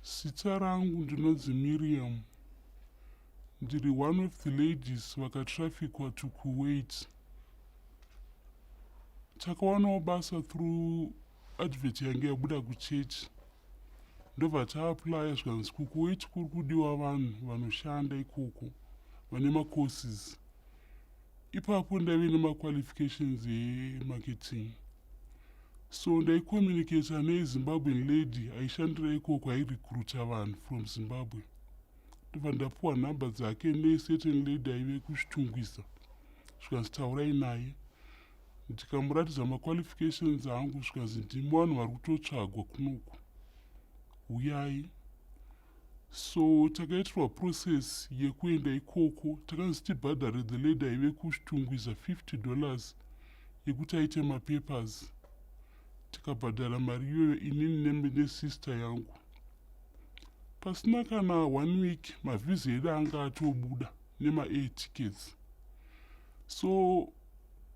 Zita rangu ndinonzi Miriam. Ndiri one of the ladies vakatrafikwa to Kuwait. Takawanawo basa through advert yange yabuda kuchechi ndobva taaplya zvikanzi kukuwait kuri kudiwa vanhu vanoshanda ikoko vane macourses ipapo ndaive nemaqualifications emarketing So ndaicommunicator nezimbabwean lady aishandira ikoko airecruita vanhu from zimbabwe ndobva ndapiwa nhamba dzake necertain lady aive kuchitungwiza zvikanzi taurai naye ndikamuratidza maqualifications angu zvikanzi ndimi vanhu vari kutotsvagwa kunoku huyai So takaitirwa process yekuenda ikoko takanzi tibhadhare the lady aive kuStungwiza 50 dollars yekuti aite mapapers tikabhadhara mari iyoyo inini nesister yangu pasina kana one week mavhiza edu anga atobuda nemaair tickets so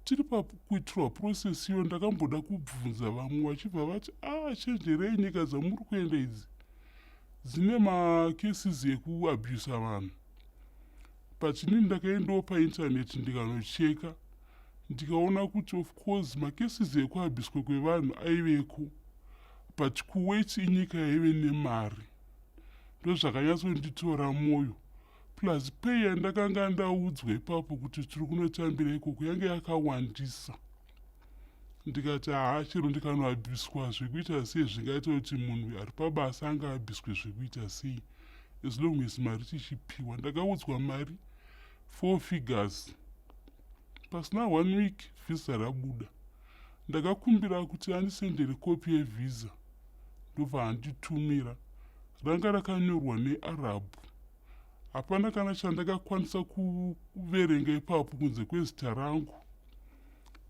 tiri pakuitirwa process iyo ndakamboda kubvunza vamwe vachibva vati ah chenjerei nyika dzamuri kuenda idzi dzine macases ekuabusa vanhu pachinini ndakaendawo painternet ndikanocheka ndikaona kuti of course macases ekuabuswa kwevanhu aiveko but kuwet inyika yaive nemari ndozvakanyatsonditora mwoyo plus pay yandakanga ndaudzwa ipapo kuti tiri kunotambira ikoko yange yakawandisa ndikati haa chero ndikanoabviswa zvekuita sei zvingaita kuti munhu ari pabasa anga abviswe zvekuita sei as long as mari tichipiwa ndakaudzwa mari four figures pasina one week vhisa rabuda ndakakumbira kuti andisendere kopi yevhisa ndobva anditumira ranga rakanyorwa nearabhu hapana kana chandakakwanisa kuverenga ipapo kunze kwezita rangu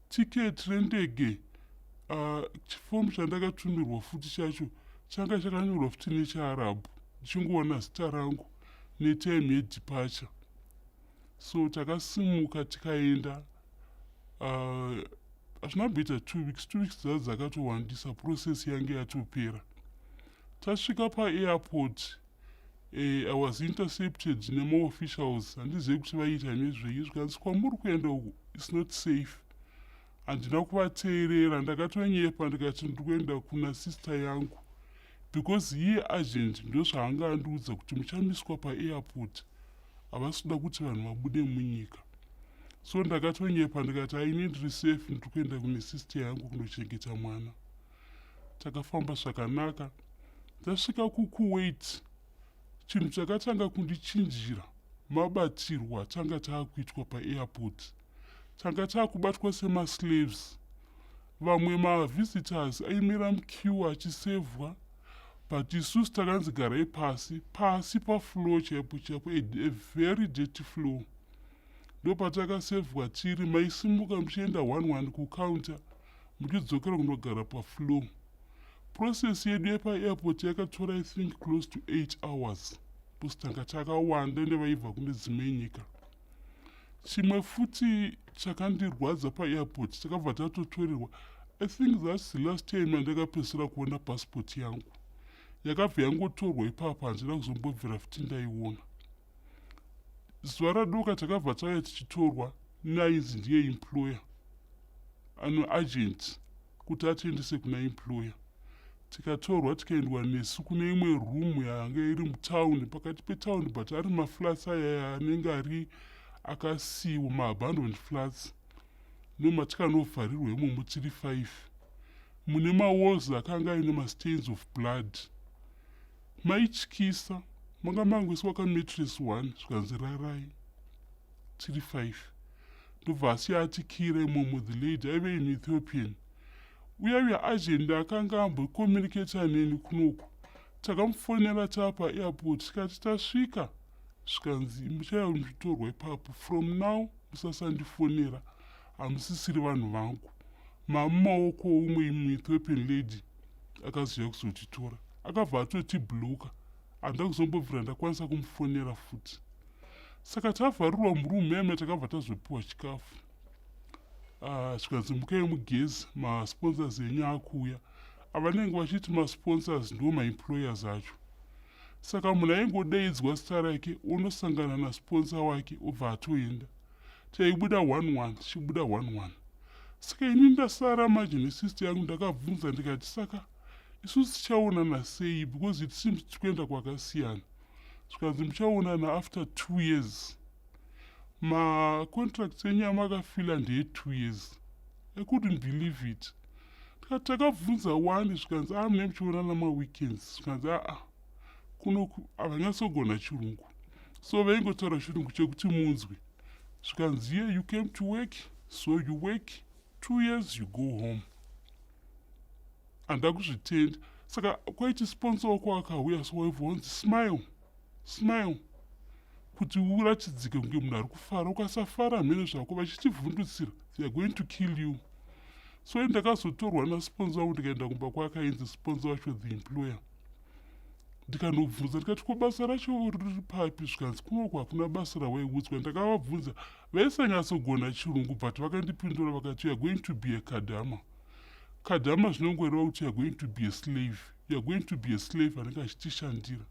ticket rendege uh, chifomu chandakatumirwa futi chacho changa chakanyorwa futi nechiarabhu ndichingoona zita rangu netime yedipacha so takasimuka tikaenda uh, hazvina uh, kuita two weeks two weeks dza dzakatowandisa process yange yatopera tasvika paairport Eh, I was intercepted nemaofficials handizive kuti vaiita nezvei zvikanzi kwamuri kuenda uku its not safe handina kuvateerera ndakatonyepa ndikati ndiri kuenda kuna sister yangu because iye agent ndozvaanga andiudza kuti muchamiswa paairport havasi kuda kuti vanhu vabude munyika so ndakatonyepa ndikati ainendiri safe ndiri kuenda kune sister yangu kunochengeta mwana takafamba zvakanaka tasvika kukuwait chinhu chakatanga kundichinjira mabatirwo atanga taakuitwa paairport tanga taakubatwa semaslaves vamwe mavisitors aimira mukiwa achisevhwa but isusu takanzi garai pasi pasi paflow chaipo chaipo a very dirty flow ndopatakasevhwa tiri maisimuka muchienda one one kucounter muchidzokera kunogara paflow process yedu yepaairport yakatora i think close to 8 hours bcause tanga takawanda ende vaibva kune dzimwe nyika chimwe futi chakandirwadza paairport takabva tatotorerwa i think thats the last time yandakapedzisira kuona passport yangu yakabva yangotorwa ipapa handina kuzombobvira futi ndaiona zuva radoka takabva tauya tichitorwa nainzi ndiye employer ano agent kuti atiendese kuna employer tikatorwa tikaendwa nesu kune imwe room yanga iri mutown pakati petown but ari maflats aya anenge ari akasiiwa maabandoned flats nomatikanobvarirwa imomo tiri five mune mawalls akanga aine mastains of blood Maityisa. Manga mangoiswa ka mattress one zvikanzi rarai tiri five. Ndobva asiya ati kira imomo the lady aive in Ethiopian. Uya uya agent akanga ambocommunicator neni kunoku. Takamufonera tapa airport tikati tasvika zvikanzi muchauya kunditorwa ipapo from now musasandifonera hamusisiri vanhu vangu. Mamumaoko oumwe imwe Ethiopian lady. akaziva kuzotitora akabva atotibloka handina kuzombobvira ndakwanisa kumufonera futi saka tavharirwa murumu yame takabva tazopiwa chikafu ah, zvikanzi mukai mugezi masponsors enyu akuuya avanenge vachiti masponsors ndiwo maemployers acho saka munhu aingodaidzwa zita rake onosangana nasponsor wake obva atoenda chaibuda one one chichibuda one one saka ini ndasara manje nesist yangu ndakabvunza ndikati saka isu tichaonana sei because it seems tikuenda kwakasiyana zvikanzi muchaonana after two years macontracts enyu amakafila ndeye two years i couldn't believe it ndikati takabvunza wani zvikanzi amune ah, muchionana maweekends zvikanzi aa ah, ah. kunoku havanyatsogona chirungu so vaingotaura chirungu chekuti munzwi zvikanzi ye you came to work so you work two years you go home handida kuzvitenda saka kwaiti sponsor wako akauya so waibva wanzi smile smile kuti uratidzike kunge munhu ari kufara ukasafara hamene zvako vachitivhundutsira they are going to kill you so ndakazotorwa nasponsor wangu ndikaenda kumba kwakainzi sponsor wacho the employer ndikanobvunza ndikati ko basa racho riri papi zvikanzi kunoko hakuna basa rawaiudzwa ndakavabvunza vaisanyatsogona chirungu but vakandipindura vakati youare going to be a kadhama kadhama zvinongoreva kuti youare going to be a slave youare going to be a slave anenge achitishandira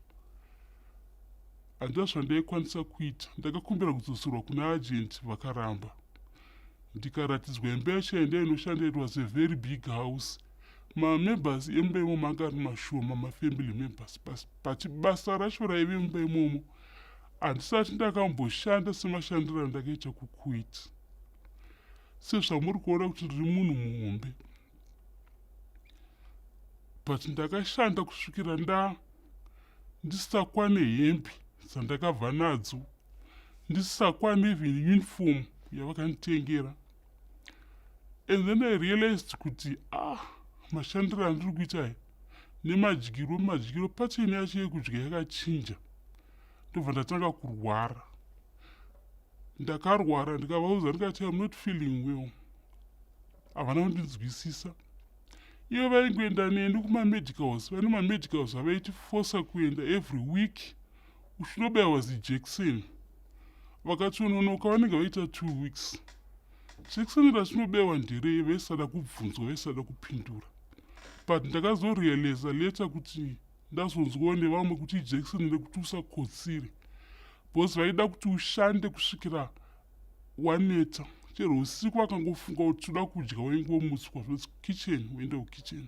handina zvandaikwanisa kuita ndakakumbira kudzoserwa kuna agenti vakaramba ndikaratidzwa imba yacho yandainoshandira it was a very big house mamembers emba imo manga ari mashoma mafamily members bas but basa racho raive mumba imomo handisati ndakamboshanda semashandiro andakaita kukuit sezvamuri kuona kuti ndiri munhu muhombe but ndakashanda kusvikira nda ndisakwane hembe dzandakabva nadzo ndisakwane even uniform yavakanditengera and then i realized kuti ah mashandiro andiri kuita aya nemadyiro madyiro pacheni yacho yekudya yakachinja ndobva ndatanga kurwara ndakarwara ndikavauza ndikati am not feeling well havana kundinzwisisa ivo vaingoenda neni kumamedicals vane mamedicals avaitifosa kuenda every week uchinobaiwa zijekiseni vakatsononoka vanenge vaita two weeks jekiseni rachinobaiwa nderei vaisada kubvunzwa vaisada kupindura but ndakazorealiza leta kuti ndazonzwawo nevamwe kuti ijekiseni rekuti usakotsire bcause vaida kuti ushande kusvikira waneta chero usiku akangofunga kuti toda kudya waingomutswa zvoti kitchen woenda kukitchen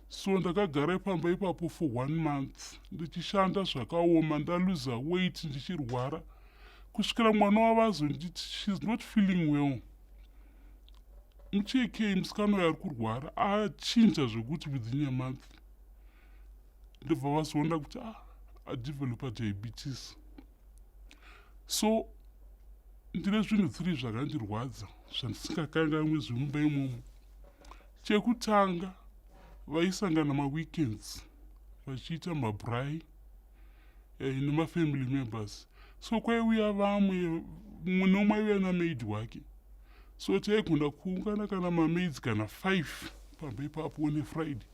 so ndakagara ipamba ipapo for one month ndichishanda zvakaoma ndaluza weit ndichirwara kusvikira mwana wavazonditi shes not feeling well muchekei musikana uyo ari kurwara achinja zvekuti within a month ndobva vazoona kuti ah, adevelopa diabetes so ndine zvinhu three zvakandirwadza zvandisingakanganwe zvemumba imomo chekutanga vaisangana maweekends vachiita mabrai eh, nemafamily members so kwaiuya vamwe mumwe nomwe aiuya namaid wake so taigona kuungana kana mamaids kana five pamba ipapo one friday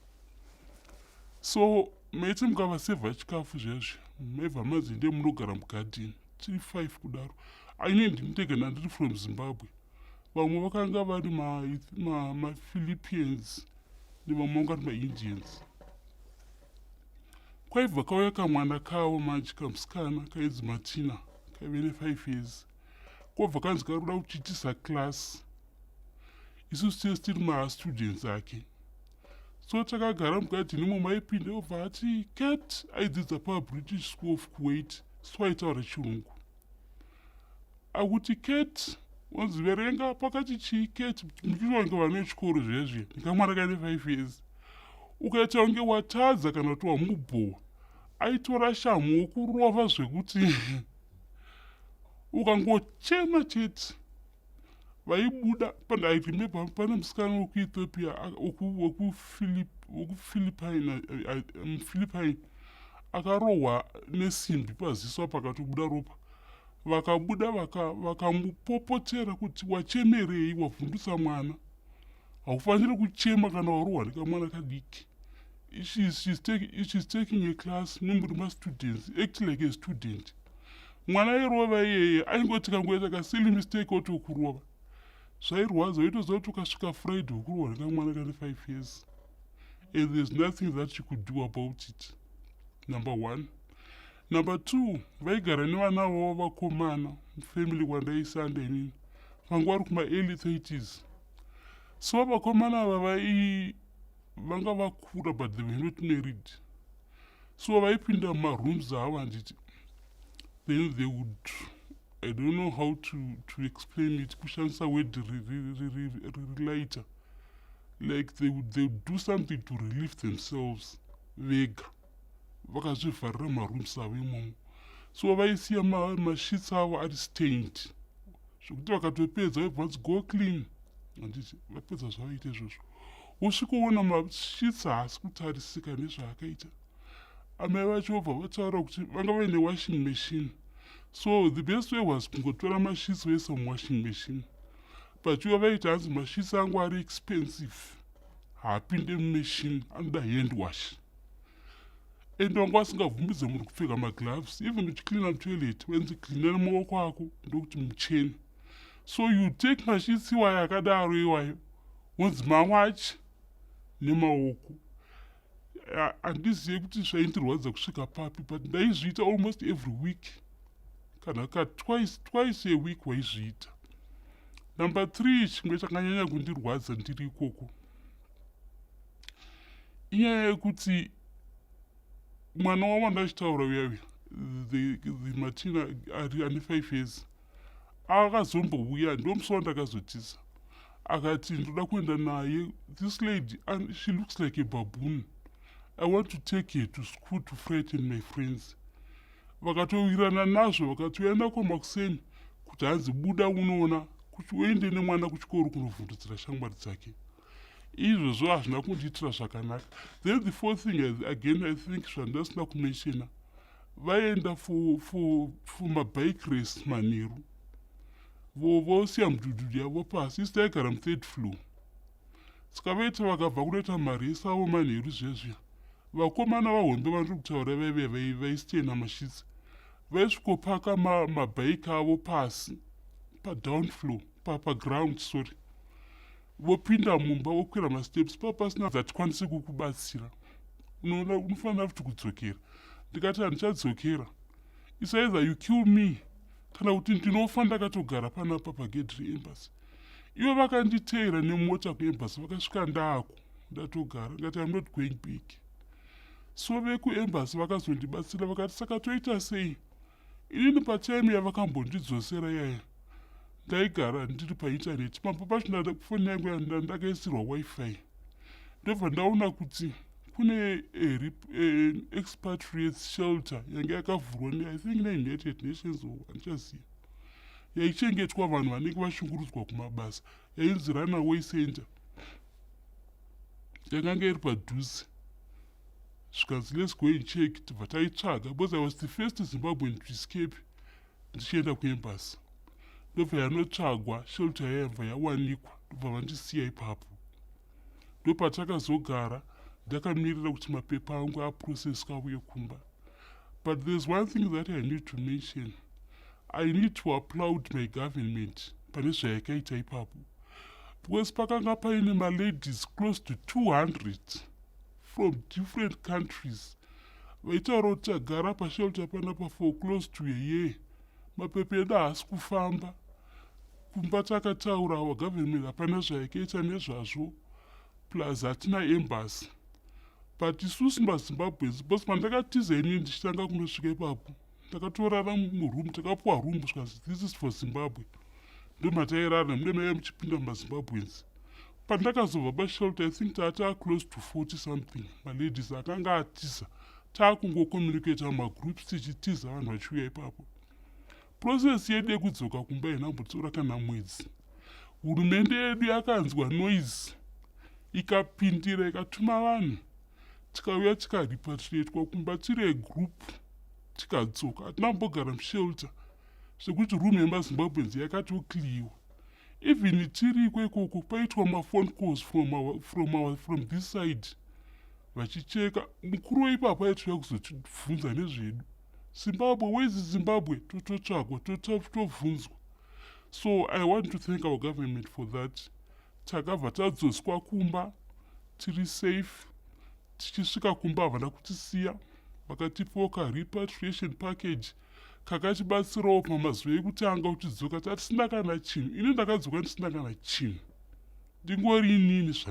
so mese mukavasevha chikafu zviyazvi mevha mazi ndiye munogara mugadhini tiri five kudaro aine ndinitega ndandiri from zimbabwe vamwe vakanga vari maphilippians ma, ma nevamwe vanga vari maindians kwaibva kauya kamwana kavo manje kamusikana kainzi matina kaive nefive years kobva kanzi kari kuda kutitisa class isusu tese tiri mastudents ake so takagara mugadhini umo maipinda obva ati cat aidzidza pabritish school of kuwait so aitaura chirungu akuti cat wanzi verenga pakati chii cat muchiita kunge vana vechikoro zviya zviya ndikamwana kaine five years ukaita kunge watadza kana kuti wamubhowa aitora shamhu wokurova zvekuti ukangochema chete vaibuda pandairememba pane musikana wekuethiopia wekuphilippine akarohwa nesimbi paziso apa akatobuda ropa vakabuda vakamupopotera kuti wachemerei wavhundutsa mwana haufanire kuchema kana warohwa nekamwana kadiki she's, she's, take, she's taking a class nomuri mastudents act like a student mwana airova iyeye aingoti kangoita kasili mistake otokurova zvairwadza oitoziva kuti ukasvika friday ukurova nekamwana kane five years and there's nothing that she could do about it number one number two vaigara nevana vavo vakomana family kwandaisanda inini vanga vari kumaearly thirties so vakomana ava vai vanga vakura but they were not married so vaipinda mumarooms avo handiti then they would i don't know how to, to explain it kushandisa word relighter like they would, they would do something to relieve themselves vega vakazvivharira mumarooms avo imomo so vaisiya mashits ma avo ari stained zvekuti vakatopedza vaibva vanzi go clean handiti vapedza zvavaita izvozvo wosvikoona mashitsi haasi kutarisika nezvaakaita amai vacho vobva vataura kuti vanga vaine washing machine so the best way was kungotora mashitsi voisa muwashing machine pachiva vaiti hanzi mashitsi angu ari expensive haapinde mumachine anoda hand wash and wanga wasingabvumidze munhu kupfeka magloves even uchicleana mutoilet wenzi cleana nemaoko ako ndokuti mucheni so you take mashits iwayo akadaro iwayo wonzi mawachi nemaoko handizive kuti zvaindirwadza kusvika papi but ndaizviita almost every week kana ka twice twice a week waizviita number three chimwe chakanyanya kundirwadza ndiri ikoko inyaya yekuti mwana wavo ndachitaura uya uya the, the matina ari ane five years akazombouya ndomusi wandakazotiza akati ndoda kuenda naye this lady she looks like a baboon i want to take her to school to frighten my friends vakatowirana nazvo vakatouya nako makuseni kuti hanzi buda unoona kuti uende nemwana kuchikoro kunovhundudzira shamwari dzake izvozvo hazvina kundiitira zvakanaka then the four thing again i think zvandasina kumenshena vaenda for for for mabike race manheru vosiya mudhudhudhu yavo pasi isi taigara muthird floor saka vaita vakabva kunoita maresi avo manheru zvezviya vakomana vahombe vandiri kutaura vaive vaisitena mashitsi vaisvikopaka mabike avo pasi padown floor paground sorry vopinda mumba vokwira masteps paa pasina dzatikwanise kukubatsira unoona unofanira futi kudzokera ndikati handichadzokera isaiza you kill me kana kuti ndinofa ndakatogara panapa pagedhi reembasy ivo vakanditeera nemota kuembasy vakasvika ndaako ndatogara ngati am not going back so vekuembasy vakazondibatsira vakati saka toita sei inini patime yavakambondidzosera yaya ndaigara ndiri paintaneti pamba pacho foni yangu ndakaisirwa wifi ndobva ndaona kuti kune eh, eh, expatriates shelter yange yakavhurwa nei think neunited nations o handichaziva yaichengetwa vanhu vanenge vashungurudzwa kumabasa yainzi runaway center yakange iri padhuze zvikanzi let's go and check tibva taitsvaga because i was the first zimbabwean to escape ndichienda kuembasi ndobva yanotsvagwa shelta yayabva yawanikwa ndobva vandisiya ipapo ndopatakazogara ndakamirira kuti mapepa angu aprocesswa auye kumba but there's one thing that i need to mention i need to applaud my government pane zvayakaita ipapo because pakanga paine maladies close to 200 from different countries vaitaura kuti tagara pashelter panapa for close to a year mapepa edu haasi kufamba kumba takataurawa government hapana zvayakaita nezvazvo plus hatina embassy but isusu mazimbabweans because pandakatiza ini ndichitanga kunosvika ipapo takatorara muroom takapuwa room zvikanzi this is for zimbabwe ndomatairara nemude maive muchipinda mumazimbabweans pandakazobva pashelter i think taataa close to 40 something maladies akanga atiza taakungocommunicata mumagroups tichitiza vanhu vachiuya ipapo process yedu yekudzoka kumba inambotora kana mwedzi hurumende yedu yakanzwa noise ikapindira ikatuma vanhu tikauya tikaripatriatwa kumba tiri egroup tikadzoka hatina kumbogara mushelter sekuti room yemazimbabweans yakatokliwa even tiriko ikoko paitwa mafon calls from, our, from, our, from this side vachicheka mukuru weipapa aitouya kuzotibvunza nezvedu zimbabwe wezi zimbabwe tototsvagwa totobvunzwa so i want to thank our government for that Takabva tadzoswa kumba tiri safe. Tichisvika kumba havana kutisiya vakatipawo karepatriation package kakatibatsirawo pamazuva ekutanga kutidzoka tatisina kana chinhu. Ini ndakadzoka ndisina kana chinhu ndingori inini zvandiri.